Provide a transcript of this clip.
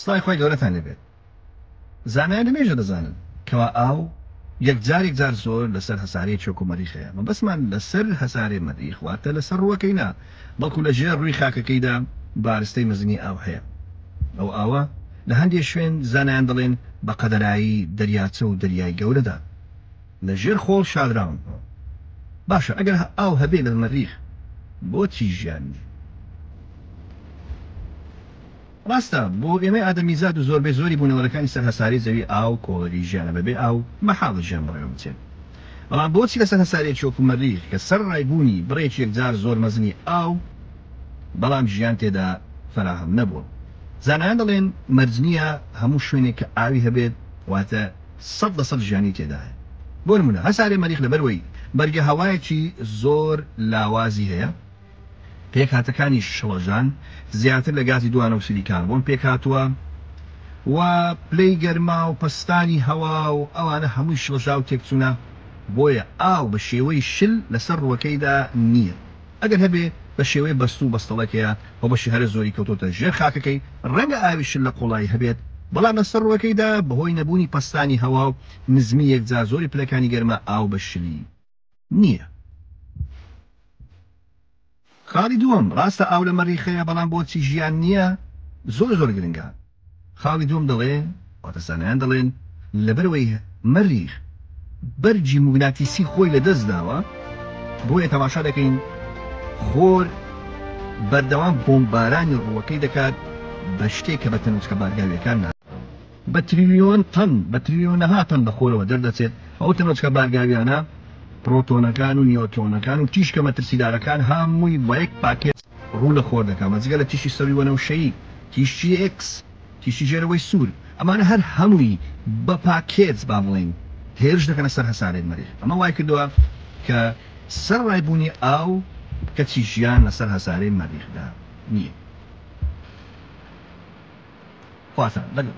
سڵای خوای گەورەتان لێبێت زانایان لەمێژە دەزانن کەوا ئاو یەک جار یەک جار زۆر لەسەر هەسارەی چۆک و مەریخ هەیە مەبەستمان لەسەر هەسارەی مەریخ واتە لەسەر ڕووەکەی نا بەڵکو لە ژێر ڕووی خاکەکەیدا بارستەی مەزنی ئاو هەیە ئەو ئاوە لە هەندێ شوێن زانایان دەڵێن بە قەدەرایی دەریاچە و دەریای گەورەدا لە ژێر خۆڵ شاردراون. باشە ئەگەر ئاو هەبێ لە مەریخ بۆچی ژیان نیە؟ ڕاستە بۆ ئێمەی ئادەمیزاد و زۆربەی زۆری بوونەوەرەکانی سەر هەسارەی زەوی ئاو کۆڵەری ژیانە بە بێ ئاو مەحاڵە ژیان بەڕێوە بچێت بەڵام بۆچی لەسەر هەسارەیەکی وەکو مەریخ کە سەر ڕای بوونی بڕێکی یەکجار زۆر مەزنی ئاو بەڵام ژیان تێدا فەراهەم نەبووە زانایان دەڵێن مەرج نیە هەموو شوێنێک کە ئاوی هەبێت واتە سەد لە سەد ژیانی تێدایە بۆ نمونە هەسارەی مەریخ لەبەر وەی بەرگەهەوایەکی زۆر لاوازی هەیە پێکهاتەکانی شڵەژان زیاتر لە گازی دوانەوسیدی کاربۆن پێکهاتوە و پلەی گەرما و پەستانی هەوا و ئەوانە هەمووی شڵەژاو تێکچونە بۆیە ئاو بە شێوەی شل لەسەر ڕوەکەیدا نیە. ئەگەر هەبێ بە شێوەی بەستوو بەستەڵەک هەیە و بەشی هەرە زۆری کەوتۆتە ژێر خاکەکەی، ڕەنگە ئاوی شل لە قوڵایی هەبێت، بەڵام لە سەر ڕووەکەیدا بەهۆی نەبوونی پەستانی هەوا و نزمی یەکجار زۆری پلەکانی گەرما ئاو بە شلی نییە. خاڵی دووەم، ڕاستە ئاو لە مەریخ هەیە، بەڵام بۆچی ژیان نییە؟ زۆر زۆر گرنگە. خاڵی دووەم دەڵێ، واتە زانایان دەڵێن لەبەرئەوەی مەریخ بەرگی موگناتیسی خۆی لەدەست داوە بۆیە تەماشا دەکەین خۆر بەردەوام بۆمبارانی ڕووەکەی دەکات بە شتێک کە بە تەنۆچکە بارگاوییەکان ناسراوە بە تریلیۆن تەن بە تریلیۆنەها تەن لەخۆرەوە دەردەچێت ئەو تەنۆچکە بارگاوییانە پرۆتۆنەکان و نیۆترۆنەکان و تیشکە مەترسیدارەکان هامووی وەیەک پاکێج ڕوو لە خۆر دەکا بە جگە لە تیشی سەوی وەنەوشەیی، تیشی ئێکس، تیشی ژێرەوەی سوور، ئەمانە هەر هەمووی بە پاکێج با بڵێین هێرش دەکەنە سەر هەسارەی مەریخ، ئەمە وای کردووە کە سەرەڕای بوونی ئاو کەچی ژیان لەسەر هەسارەی مەریخدا نییە. خواتان لەگەڵ.